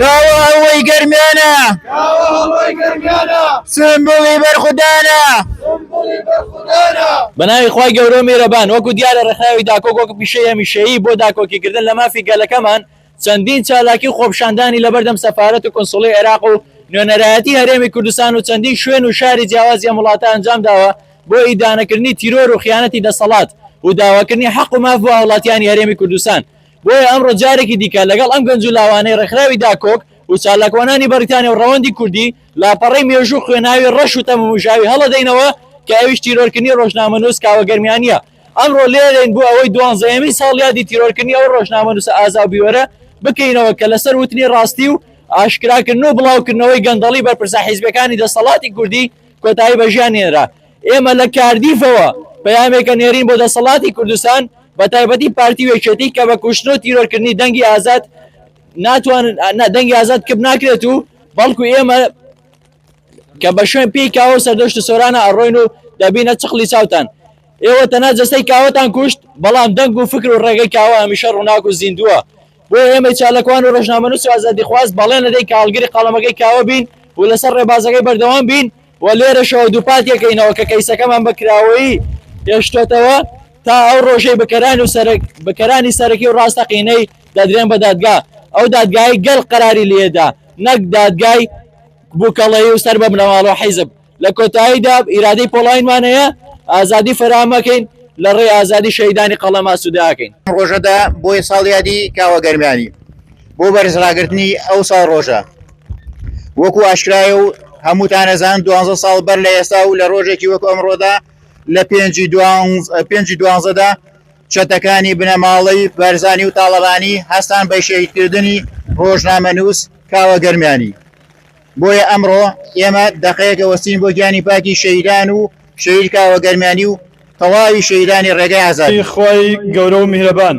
کاوە هەڵۆی گەرمیانە سمبولی بەرخودانە بەناوی خی گەورە میرەبان وەکو دیارە ڕێکخراوی داکۆک وەکو پیشەی هەمیشەیی بۆ داکۆکیکردن لە مافی گەلەکەمان چەندین چالاکی و خۆپشاندانی لەبەردەم سەفاەت و کنسڵی عێراق و نوێنەرایەتی هەرێمی کوردستان و چەندین شوێن و شاری جیاوازی ئەم وڵاتە ئەنجام داوە بۆ ئیدانەکردنی تیرۆر و خیانەتی دەسەڵات و داواکردنی حەق و ماف بۆ هاوڵاتیانی هەرێمی کوردستان بۆیە ئەمڕۆ جارێکی دیکە لەگەڵ ئەم گەنج و لاوانەی ڕێکخراوی داکۆک و چالاکوانانی بەڕیتانیا و ڕەوەندی کوردی لاپەڕەی مێژوو و خوێناوی ڕەش و تەمومژاوی هەڵەدەینەوە کە ئەویش تیرۆرکردنی ڕۆژنامەنووس کاوە گەرمیانییە. ئەمڕۆ لێرەین بۆ ئەوەی دوانزەیەمین ساڵیادی تیرۆرکردنی ئەو ڕۆژنامەنووسە ئازا و بیوەرە بکەینەوە کە لەسەر وتنی ڕاستی و ئاشکراکردن و بڵاوکردنەوەی گەندەڵی بەرپرسە حیزبییەکانی دەستەڵاتی کوردی کۆتایی بە ژیان هێنرا. ئێمە لە کاردیفەوە پەیامێکە نێرین بۆ دەسەڵاتی کوردستان بە تایبەتی پارتی و یەکێتی کە بە کوشتن و تیرۆر کردنی دەنگی ئازاد ناتوانن دەنگی ئازاد کپ ناکرێت و بەڵکو ئێمە کە بە شوێن پێی کاوە سەردەشت و سۆرانە ئەڕۆین و دەبینە چقلی چاوتان ئێوە تەنها جەستەی کاوەتان کوشت بەڵام دەنگ و فکر و ڕێگەی کاوە هەمیشە ڕووناک و زیندووە بۆیە ئێمەی چالاکوان و ڕۆژنامەنووس و ئازادیخواز بەڵێن ئەدەین کە هەڵگری قەڵەمەکەی کاوە بین و لەسەر ڕێبازەکەی بەردەوام بین و لێرەشەوە دووپاتی ئەکەینەوە کە کەیسەکەمان بە کراوەیی هێشتۆتەوە تا ئەو ڕۆژەی بکەرانی و سەرک بکەرانی سەرەکی و ڕاستەقینەی دەدرێن بە دادگا ئەو دادگای گەل قەراری لێدا نەک دادگای بووکەڵەیی و سەر بە بنەماڵە و حیزب لە کۆتاییدا ئیرادەی پۆڵاینمان هەیە ئازادی فەرام ئەکەین لە ڕێی ئازادی شەهیدانی قەڵەم ئاسوودە ئەکەین. ئەم ڕۆژەدا بۆیە ساڵیادی کاوە گەرمیانی بۆ بەرزڕاگرتنی ئەو ساڵ ڕۆژە وەکو ئاشکرایە و هەمووتان ئەزان دوانزە ساڵ بەر لە ئێستا و لە ڕۆژێکی وەکو ئەمڕۆدا لە پێنجی دوانز- ە، پێنجی دوانزەدا چەتەکانی بنەماڵەی بەرزانی و تاڵەبانی هەستان بە شەهیدکردنی ڕۆژنامەنووس کاوە گەرمیانی. بۆیە ئەمڕۆ ئێمە دەقەیەکە وەستین بۆ گیانی پاکی شەهیدان و شەهید کاوە گەرمیانی و تەواوی شەهیدانی ڕێگای ئازادی. ی خوای گەورە و میهرەبان.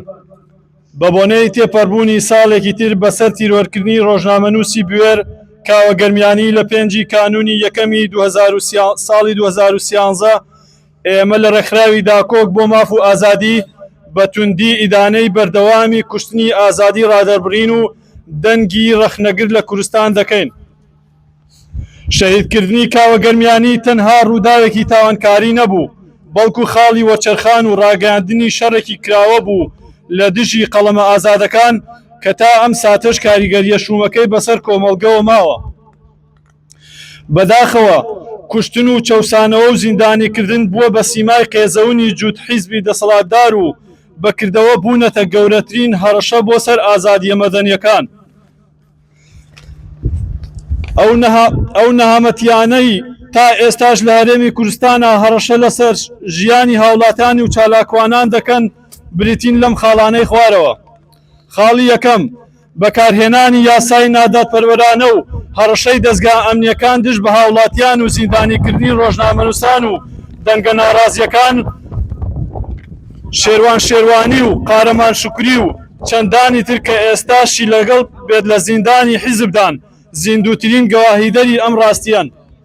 بە بۆنەی تێپەربوونی ساڵێکی تر بەسەر تیرۆرکردنی ڕۆژنامەنووسی بوێر کاوە گەرمیانی لە پێنج ی کانوونی یەکەمی دوو هەزار و سێ ساڵی دوو هەزار و سیانزە، ئێمە لە ڕێکخراوی داکۆک بۆ ماف و ئازادی بە توندی ئیدانەی بەردەوامی کوشتنی ئازادی ڕادەربڕین و دەنگی ڕەخنەگر لە کورستان دەکەین. شەهیدکردنی کاوە گەرمیانی تەنها ڕووداوێکی تاوانکاری نەبوو، بەڵکو خاڵی وەرچەرخان و ڕاگەیاندنی شەڕێکی کراوە بوو لە دژی قەڵەمە ئازادەکان کە تا ئەم ساتەش کاریگەرییە شوومەکەی بەسەر کۆمەڵگەوە ماوە. بەداخەوە کوشتن و چەوسانەوە و زیندانیکردن بووە بە سیمای قێزەونی جووت حیزبی دەسەڵاتدار و بە کردەوە بوونەتە گەورەترین هەڕەشە بۆ سەر ئازادییە مەدەنییەکان. ئەو نەهامەتییانەی تا ئێستاش لە هەرێمی کوردستانا هەڕەشە لەسەر ژیانی هاوڵاتیانی و چالاکوانان دەکەن بریتین لەم خاڵانەی خوارەوە. خاڵی یەکەم، بەکارهێنانی یاسای نادادپەروەرانە و هەڕەشەی دەزگا ئەمنییەکان دژ بە هاوڵاتیان و زیندانیکردنی ڕۆژنامەنووسان و دەنگە ناڕازییەکان شێروان شێروانی و قارەمان شوکری و چەندانی تر کە ئێستاشی لەگەڵ بێت لە زیندانی حیزبدان زیندووترین گەواهیدەری ئەم ڕاستییەن.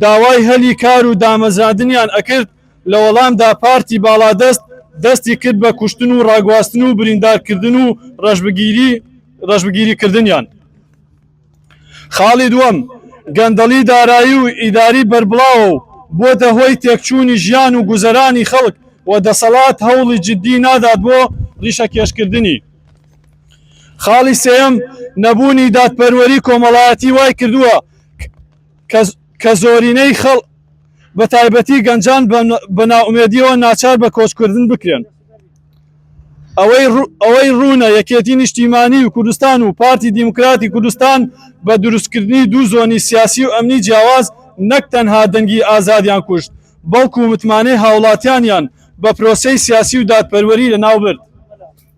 داوای هەلی کار و دامەزراندنیان ئەکرد، لە وەڵامدا پارتی باڵادەست دەستی کرد بە کوشتن و ڕاگواستن و بریندارکردن و ڕەشبگیریکردنیان. خاڵی دووەم، گەندەڵی دارایی و ئیداری بەربڵاوە و بووەتە هۆی تێکچوونی ژیان و گوزەرانی خەڵک و دەسەڵات هەوڵی جددی نادات بۆ ڕیشەکێشکردنی. خاڵی سێیەم، نەبوونی دادپەروەری کۆمەڵایەتی وای کردووە، کە زۆرینەی خەڵک بە تایبەتی گەنجان بە نائومێدییەوە ناچار بە کۆچکردن بکرێن. ئەوەی ڕوونە یەکێتی نیشتیمانی و کوردستان و پارتی دیموکراتی کوردستان بە دروستکردنی دوو زۆنی سیاسی و ئەمنی جیاواز نەک تەنها دەنگی ئازادیان کوشت بەڵکو متمانەی هاوڵاتیانیان بە پرۆسەی سیاسی و دادپەروەری لەناوبرد.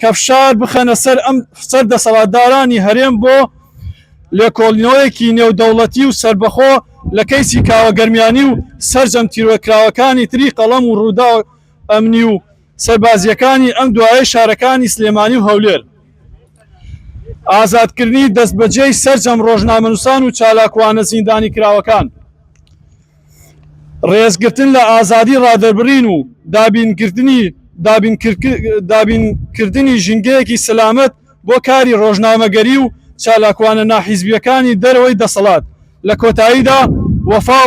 کە فشار بخەنە سەر ئەم سەر دەسەڵاتدارانی هەرێم بۆ لێکۆڵینەوەیەکی نێودەوڵەتی و سەربەخۆ لە کەیسی کاوە گەرمیانی و سەرجەم تیرۆرکراوەکانی تری قەڵەم و ڕوودا ئەمنی و سەربازیەکانی ئەم دوایە شارەکانی سلێمانی و هەولێر ئازادکردنی دەستبەجێی سەرجەم ڕۆژنامەنووسان و چالاکوانە زیندانی کراوەکان. ڕێزگرتن لە ئازادی ڕادەربڕین و دابینکردنی ژینگەیەکی سەلامەت بۆ کاری ڕۆژنامەگەری و چالاکوانە ناحیزبییەکانی دەرەوەی دەسەڵات. لە کۆتاییدا وەفا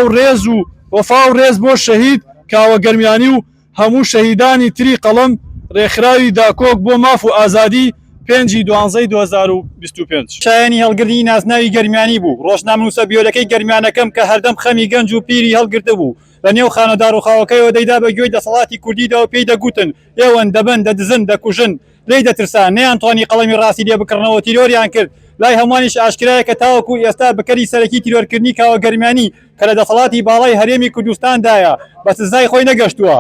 و ڕێز بۆ شەهید کاوە گەرمیانی و هەموو شەهیدانی تری قەڵەم، ڕێکخراوی داکۆک بۆ ماف و ئازادی، پێنج ی دوانزەی دوو هەزار و بیست و پێنج. شایەنی هەڵگری نازناوی گەرمیانی بوو، ڕۆژنامەنووسە بیۆلەکەی گەرمیانەکەم کە هەردەم خەمی گەنج و پیری هەڵگرتبوو لە نێو خانە داڕووخاوەکەیەوە دەیدا بە گوێی دەسەڵاتی کوردیدا و پێی دەگوتن ئێوەن، دەبەن، دەدزن، دەکوژن. لێی دەترسان، نەیانتوانی قەڵەمی ڕاستی لێ بکڕنەوە، تیرۆریان کرد. لای هەمووانیش ئاشکرایە کە تاوەکوو ئێستا بکەری سەرەکی تیرۆرکردنی کاوە گەرمیانی، کە لە دەسەڵاتی باڵای هەرێمی کوردستاندایە بە سزای خۆی نەگەشتووە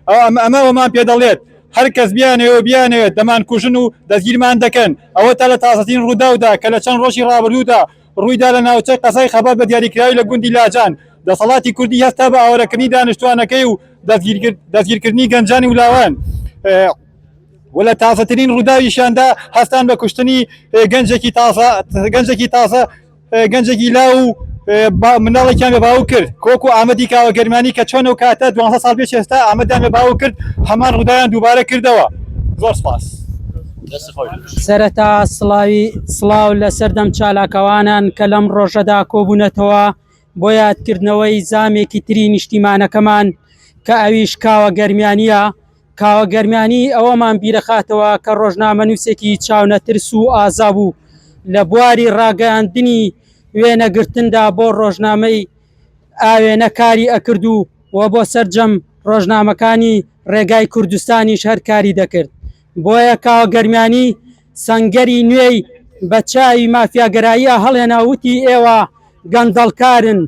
ئەم ئەمە وەمان پێ دەڵێت هەر کەس بیانەوە بیانەوێت دەمان کوژن و دەستگیرمان دەکەن ئەوە تا لە تازەترین ڕووداودا کە لە چەند ڕۆژی ڕابردوودا ڕوویدا لە ناوچەی قەزای خەبات بە دیاریکراوی لە گوندی لاجان دەسەڵاتی کوردی هەستا بە ئاوارەکردنی دانیشتوانەکەی و دەستگیرکردنی گەنجانی ولاوان و لە تازەترین ڕووداویشیاندا هەستان بە کوشتنی گەنجێکی تازە گەنجێکی تازە گەنجێکی لاو و مناڵێکیان بە باو کرد کۆک و ئامەدی کاوە گەرمانی کە چۆن و کاتە دو سال پێش ئێستا ئامەدان بە باو کرد هەمان ڕودایان دووبارە کردەوە زۆر سپاس. سەرەتا سڵاوی سڵاو لە سەردەم چالاکەوانان کە لەم ڕۆژەدا کۆبوونەتەوە بۆ یادکردنەوەی زامێکی تری نیشتیمانەکەمان کە ئەویش کاوە گەرمیانە کاوە گەرمیانی ئەوەمان بیرەخاتەوە کە ڕۆژنامەنووسێکی چاونەترس و ئازا بوو لە بواری ڕاگەیاندنی وێنەگرتندا بۆ ڕۆژنامەی ئاوێنە کاری ئەکرد و و بۆ سەرجەم ڕۆژنامەکانی ڕێگای کوردستانیش هەر کاری دەکرد بۆیە کاوە گەرمیانی سەنگەری نوێی بە چاوی مافیاگەراییە هەڵێنا وتی ئێوە گەندەڵکارن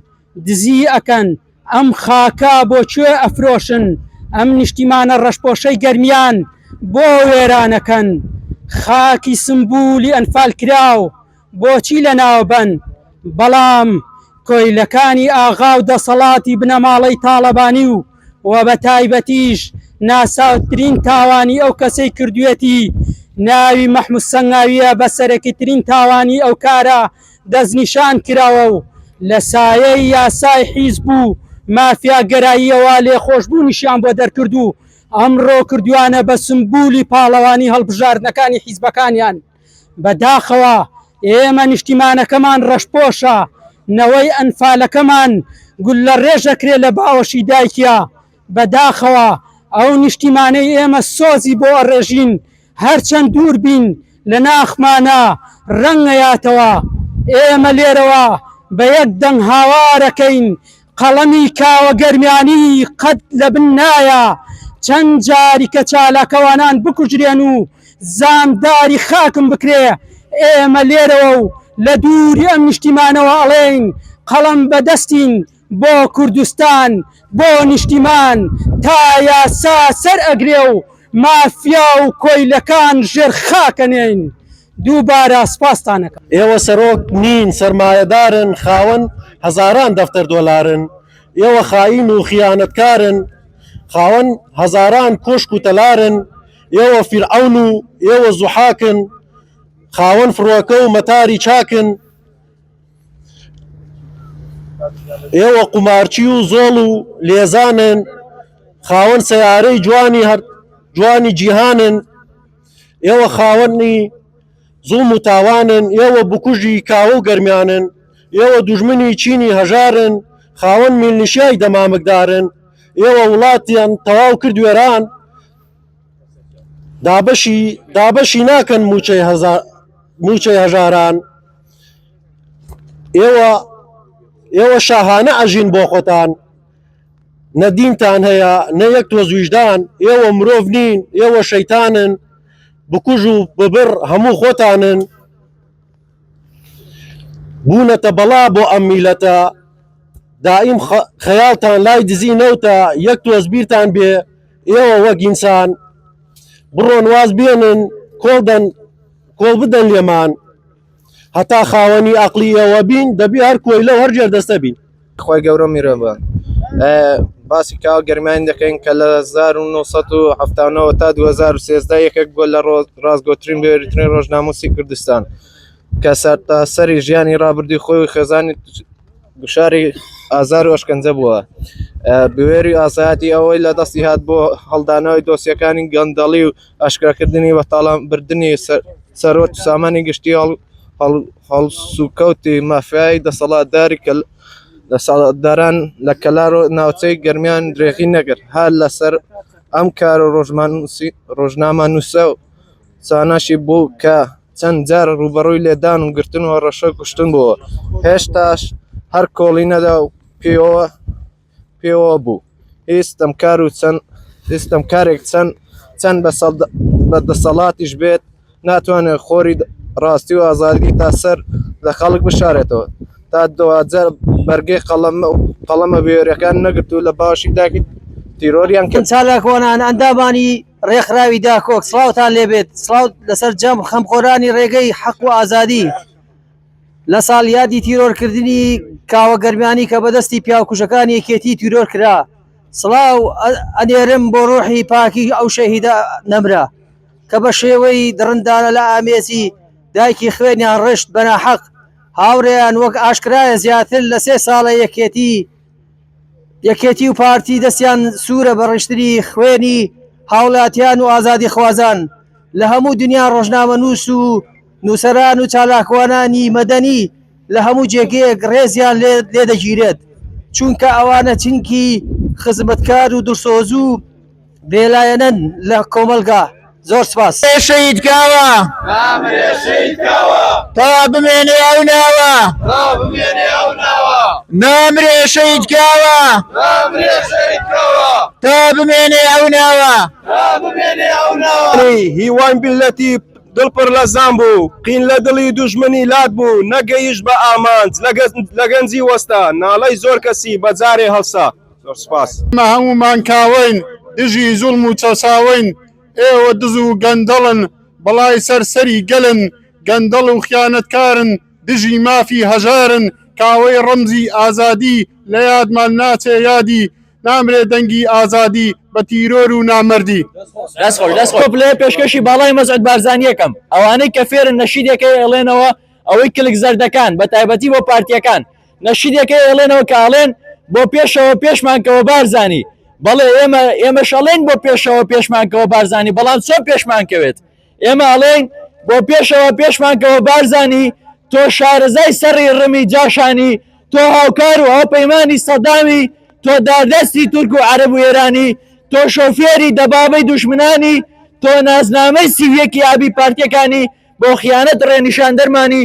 دزی ئەکەن ئەم خاکە بۆ کوێ ئەفرۆشن ئەم نیشتیمانە ڕەشپۆشەی گەرمیان بۆ وێرانەکەن خاکی سمبولی ئەنفال کراو بۆچی لەناوبەن بەڵام کۆیلەکانی ئاغاو دەسەڵاتی بنەماڵەی تاڵەبانی و وە بەتایبەتیش ناساوترین تاوانی ئەو کەسەی کردوێتی ناوی مەحمود سەنگاویە بەسەرەکیترین تاوانی ئەو کارە دەستنیشان کراوە و لە سایەی یاسای حیزب و مافیاگەراییەوە لێخۆشبوونیشیان بۆ دەرکرد و ئەمڕۆ کردویانە بە سمبولی پاڵەوانی هەڵبژاردنەکانی حیزبەکانیان. بە داخەوە ئێمە نیشتیمانەکەمان ڕەشپۆشە، نەوەی ئەنفالەکەمان گوللەڕێژەکرێ لە باوەشی دایکیا. بە داخەوە ئەو نیشتیمانەی ئێمە سۆزی بۆ ئەڕێژین، هەرچەند دوور بین لە ناخمانا ڕەنگەیاتەوە ئێمە لێرەوە بە یەک دەنگ هاوارەکەین قەڵەمی کاوە گەرمیانی قەت لە بن نایە چەند جاری کە چالاکەوانان بکوژرێن و زامداری خاکم بکرێ ئێمە لێرەوە و لە دووری ئەم نیشتیمانەوە ئەڵێین قەڵەم بە دەستین بۆ کوردستان بۆ نیشتیمان تا یاسا سەر ئەگرێ و مافیا و کۆیلەکان ژێر خاکەنێین دووبارە سپاستان ئەکەم. ئێوە سەرۆک نین سەرمایەدارن خاوەن هەزاران دەفتەر دۆلارن ئێوە خائین و خیانەتکارن خاوەن هەزاران کۆشک و تەلارن ئێوە فیرعەون و ئێوە زوحاکن خاوەن فڕۆکە و مەتاری چاکن ئێوە قومارچی و زۆڵ و لێزانن خاوەن سەیارەی جوانی هەر جوانی جیهانن ئێوە خاوەنی زوڵم و تاوانن ئێوە بکوژی کاوە و گەرمیانن ئێوە دوژمنی چینی هەژارن خاوەن میللیشیای دەمامکدارن ئێوە وڵاتیان تەواو کرد وێران دابەشی دابەشی ناکەن مووچەی هەزار مووچەی هەژاران. ئێوە ئێوە شاهانە ئەژین بۆ خۆتان نە دینتان هەیە نە یەک تۆز ویژدان ئێوە مرۆڤ نین ئێوە شەیتانن بکوژ و ببڕ هەموو خۆتانن بوونەتە بەڵا بۆ ئەم میلەتە دائیم خەیاڵتان لای دزی نەوتە یەک تۆز بیرتان بێ ئێوە وەگینسان بڕۆن واز بێنن کۆڵدەن کۆڵ بدەن لێمان هەتا خاوەنی ئەقلی ئەوە بین دەبی هەر کۆیلە و هەر جێر دەستە بین خۆی گەورە میرەبان باسی کاوە گەرمانی دەکەین کە لە 1970 تا 2013 یەکێک بۆ لە ڕاستگۆترین بێریترین ڕۆژناموسی کوردستان کە سەر تا سەری ژیانی ڕابردی خۆی خێزانی گوشاری ئازار و ئەشکەنجە بووە بوێری ئاسایەتی ئەوەی لە دەستی هات بۆ هەڵدانەوەی دۆسیەکانی گەندەڵی و ئاشکراکردنی و تاڵانبردنی سەروەت و سامانی گشتی هەڵسوکەوتی مافیایی دەسەڵاتداری دەسەڵاتداران لە کەلار و ناوچەی گەرمیان درێغی نەگەر هەر لەسەر ئەم کار و ڕۆژمان ڕۆژنامە نووسە و ساناشی بوو کە چەند جار ڕوبەڕووی لێدان و گرتن و ڕەشە کوشتن بووە هێشتاش هەر کۆڵی نەدا و پێوە پێوە بوو هی ستەمکار و چەند ستەمکارێک چەند چەند بە دەسەڵاتیش بێت ناتوانێت خۆری ڕاستی و ئازادی تا سەر لە خەڵک بشارێتەوە تا دوجار بەرگێ قەڵم و قەڵەمە بێرەکان نەگرت و لە باشی داکی تیرۆریان کرد چالاکوانان ئەندامانی ڕێکخراوی داکۆک سڵاوتان لێبێت سڵاو لەسەر جەم خەمخۆرانی ڕێگەی حەق و ئازادی. لە ساڵیادی تیرۆرکردنی کاوە گەرمیانی کە بەدەستی پیاوکوژەکانی یەکێتی تیرۆر کرا، سڵاو ئەنێرم بۆ ڕوحی پاکی ئەو شەهیدە نەمرە کە بە شێوەی دڕندانە لە ئامێزی دایکی خوێنیان ڕشت بە ناحەق، هاوڕێیان وەک ئاشکرایە زیاتر لە سێ ساڵە یەکێتی یەکێتی و پارتی دەستیان سوورە بە ڕشتنی خوێنی هاوڵاتیان و ئازادیخوازان لە هەموو دنیا ڕۆژنامەنووس و نووسەران و چالاکوانانی مەدەنی لە هەموو جێگەیەک ڕێزیان لێ دەگیرێت، چونکە ئەوانە چنگی خزمەتکار و دڵسۆزو بێلایەنەن لە کۆمەڵگا. زۆر سپاس. بمرێ شەهید کاوە تا بمێنێ ئەو ناوە. نامرێ شەهید کاوە تا بمێنێ ئەو ناوە. هیوای میللەتی. دڵ پڕ لە زام بوو قین لە دڵی دوژمنی لات بوو نەگەیشت بە ئامانج لە گەنجی وەستا ناڵەی زۆر کەسی بە جارێ هەڵسا زۆر سوپاس. ئێمە هەموومان کاوەین دژی زوڵم و چەساوەین ئێوە دز و گەندەڵن بەڵای سەر سەری گەلن گەندەڵ و خیانەتکارن دژی مافی هەژارن کاوەی ڕەمزی ئازادی لە یادمان ناچێ یادی نامرێ دەنگی ئازادی بە تیرۆر و نامەردی. دەست خۆش دەست خۆش بڵێ پێشکەشی باڵای مەسعود بارزانیەکەم ئەوانەی کە فێرن نەشیدێکەی ئەڵێنەوە ئەوەی کلک زەردەکان بە تایبەتی بۆ پارتیەکان نەشیدێکەی ئەڵێنەوە کە ئەڵێن بۆ پێشەوە پێشمان کەوە بارزانی بەڵێ ئێمە ئێمەش ئەڵێن بۆ پێشەوە پێشمان کەوە بارزانی بەڵام چۆن پێشمان کەوێت ئێمە ئەڵێین بۆ پێشەوە پێشمان کەوە بارزانی تۆ شارەزای سەری ڕمی جاشانی تۆ هاوکار و هاوپەیمانی سەدامی تۆ داردەستی تورک و عەرب و ئێرانی تۆ شۆفێری دەبابەی دوشمنانی تۆ نازنامەی سیویەکی ئابی پارتیەکانی بۆ خیانەت ڕێنیشاندەرمانی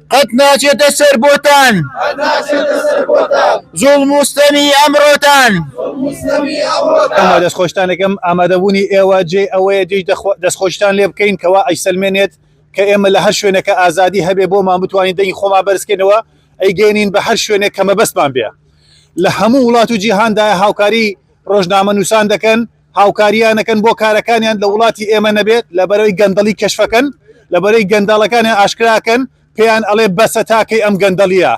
قەت ناچێتە سەر بۆتان زوڵم و ستەمی ئەمڕۆتان. ئەمە دەستخۆشتانەکەم ئامادەبوونی ئێوە جێی ئەوەیە جێی دەستخۆشیتان لێ بکەین کەوا ئەیسەلمێنێت کە ئێمە لە هەر شوێنەکە ئازادی هەبێ بۆمان بتوانین دەنگی خۆمان بەرزکەینەوە ئەیگەینین بە هەر شوێنێک کە مەبەستمان بێ لە هەموو وڵات و جیهاندایە هاوکاری ڕۆژنامە نووسان دەکەن هاوکاریانەکەن بۆ کارەکانیان لە وڵاتی ئێمە نەبێت لەبەرەوەی گەندەڵی کەشفەکەن لەبەرەی گەنداڵەکانیان ئاشکراکەن پێیان ئەڵێ بەسە تاکەی ئەم گەندەڵیە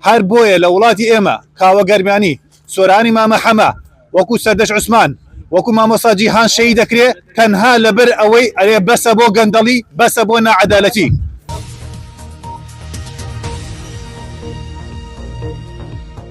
هەر بۆیە لە وڵاتی ئێمە کاوە گەرمیانی سۆرانی مامە حەمە وەکو سەردەش عوسمان وەکو مامۆسا جیهان شەی دەکرێ تەنها لەبەر ئەوەی ئەرێ بەسە بۆ گەندەڵی بەسە بۆ نەعەدالەتی